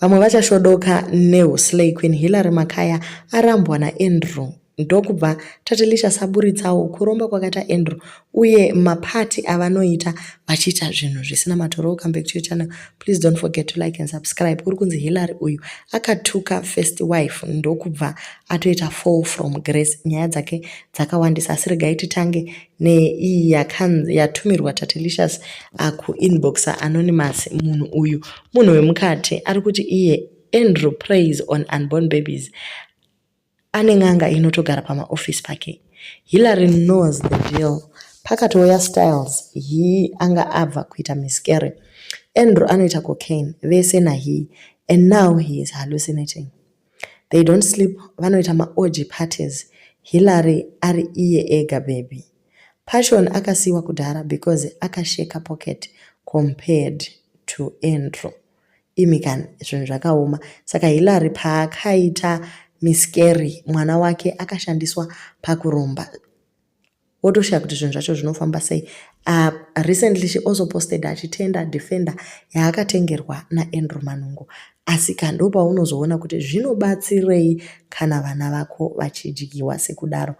Vamwe vachashodoka Neo Slay Queen Hillary Makaya arambwa naAndrew ndokubva Tatilisha saburitsawo kuromba kwakaita Andrew uye mapati avanoita vachiita zvinhu zvisina matoro come back to your channel please don't forget to like and subscribe uri kunzi Hillary uyu akatuka first wife ndokubva atoita fall from grace nyaya dzake dzakawandisa asi regai titange neiyi yakanzi yatumirwa tatelicious akuinboxa ah, anonymous munhu uyu munhu wemukati ari kuti iye andrew praise on unborn babies ane n'anga inotogara pamaofisi pake hillary knows the deal pakatouya styles hii anga abva kuita miscary andrew anoita cocaine vese nahii and now he is hallucinating They don't sleep vanoita maorgy parties Hillary ari iye ega baby. Passion akasiiwa kudhara because akasheka pocket compared to Andrew. Imi kani zvinhu zvakaoma. Saka Hillary paakaita miscarry mwana wake akashandiswa pakuromba wotoshaya kuti zvinhu zvacho zvinofamba sei uh, recently she also posted achitenda defender yaakatengerwa naandrew manungo asi ka ndo paunozoona kuti zvinobatsirei kana vana vako vachidyiwa sekudaro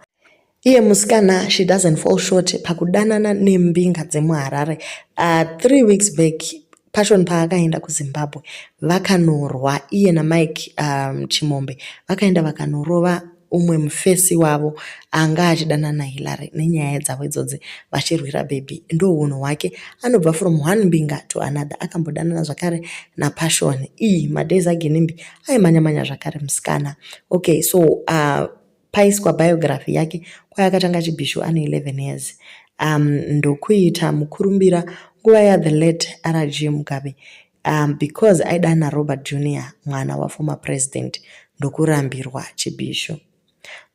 iye musikana she doesn't fall short pakudanana nembinga dzemuharare uh, three weeks back Passion paakaenda kuZimbabwe vakanorwa iye naMike um, Chimombe vakaenda vakanorova umwe mufesi wavo anga achidanana Hillary nenyaya dzavo idzodzi vachirwira baby ndohunhu hwake anobva from one mbinga to another akambodanana zvakare napassion iyi madays aginimbi aimanyamanya zvakare musikana okay so uh, Paiswa biography yake kwayakatanga chibhishu ane 11 years um, ndokuita mukurumbira nguva yathe late rg mugabe um, because aidana robert junior mwana waformer president ndokurambirwa chibhishu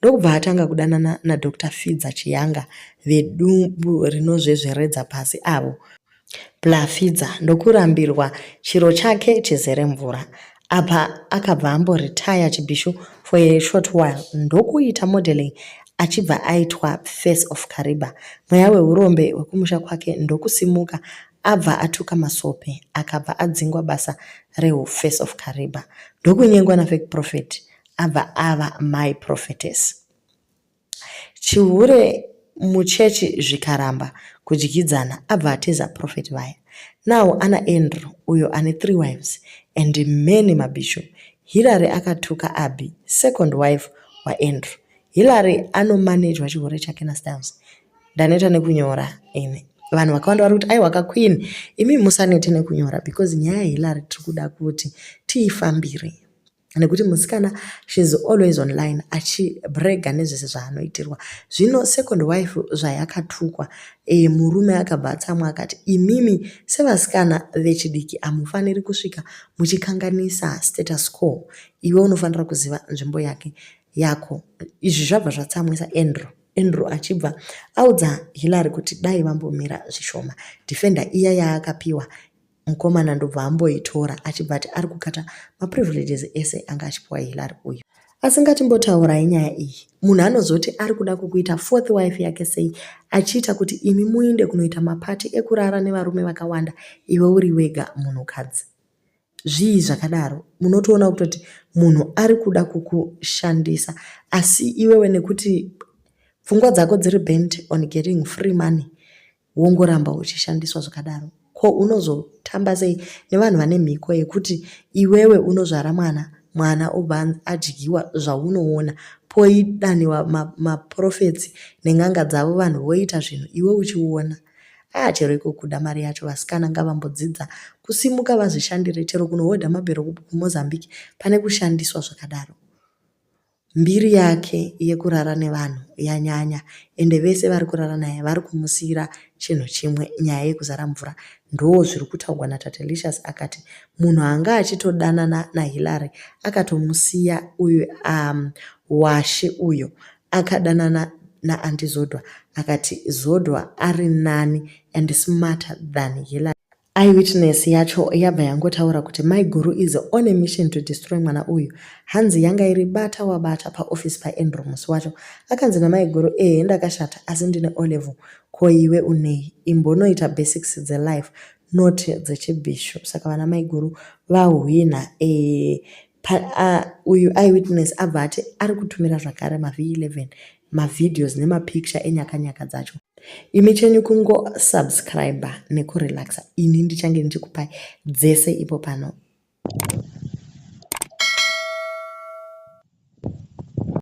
ndokubva atanga kudanana nadr fidza chiyanga vedumbu rinozvezveredza pasi avo Blafidza ndokurambirwa chiro chake chizere mvura. Apa akabva ambo retire Chibhishu for a short while ndokuita modeling achibva aitwa face of Kariba. Mweya wehurombe wekumusha kwake ndokusimuka abva atuka Masope akabva adzingwa basa rehu face of Kariba. Ndokunyengwa nafake prophet abva ava my prophetess. Chihure muchurch zvikaramba kudyidzana abva atiza prophet vaya. Now ana Andrew uyo ane three wives and many mabishu. Hillary akatuka Abby second wife waAndrew. Hillary anomanejwa chihure chake naStyles. Ndaneta nekunyora ini. Vanhu vakawanda vari kuti aiwa kaQueen imi musanete nekunyora because nyaya yaHillary tiri kuda kuti tiifambire. nekuti musikana shes always online achibrega nezvese zvaanoitirwa zvino second wife zvayakatukwa e, murume akabva atsamwa akati imimi sevasikana vechidiki hamufaniri kusvika muchikanganisa status quo iwe unofanira kuziva nzvimbo yake yako izvi zvabva zvatsamwisa andrew andrew achibva audza hillary kuti dai vambomira zvishoma defender iya yaakapiwa mukomana ndobva amboitora achibva ati ari kukata maprivileges ese anga achipiwa hilary uyu asi ngatimbotaurayi nyaya iyi munhu anozoti ari kuda kukuita fourth wife yake sei achiita kuti imi muinde kunoita mapati ekurara nevarume vakawanda iwe uri wega munhukadzi zvii zvakadaro munotoona kutoti munhu ari kuda kukushandisa asi iwewe nekuti pfungwa dzako dziri bent on getting free money wongoramba uchishandiswa zvakadaro ko unozotamba sei nevanhu vane mhiko yekuti iwewe unozvara mwana mwana obva adyiwa zvaunoona poidaniwa maprofets ma nen'anga dzavo vanhu voita zvinhu iwe uchiona aa chero iko kuda mari yacho vasikana ngavambodzidza kusimuka vazvishandire chero kunohodha mabhero kumozambique pane kushandiswa zvakadaro Mbiri yake yekurara nevanhu yanyanya ende vese vari kurara naye vari kumusiira chinhu chimwe nyaya yekuzara mvura ndoo zviri kutaugwa na Tatelicious akati munhu anga achitodanana na Hillary akatomusiya uyu umm washe uyo akadanana na Aunty Zodwa akati Zodwa ari nani and smarter than Hillary Eyewitness yacho yabva yangotaura kuti maiguru is on a mission to destroy mwana uyu. Hanzi yanga iri bata wabata paoffice paAndrew musi wacho. Akanzi namaiguru ehe ndakashata asi ndine O'level. Ko iwe unei? Imbonoita basics dzelife not dzechibhishu. Saka vana maiguru vahwinha ehe. Pa, uh, uyu eyewitness abva ati ari kutumira zvakare maV11 mavideos nemapicture enyakanyaka dzacho imi chenyu kungosubscriber nekurelaxa ini ndichange ndichikupai dzese ipo pano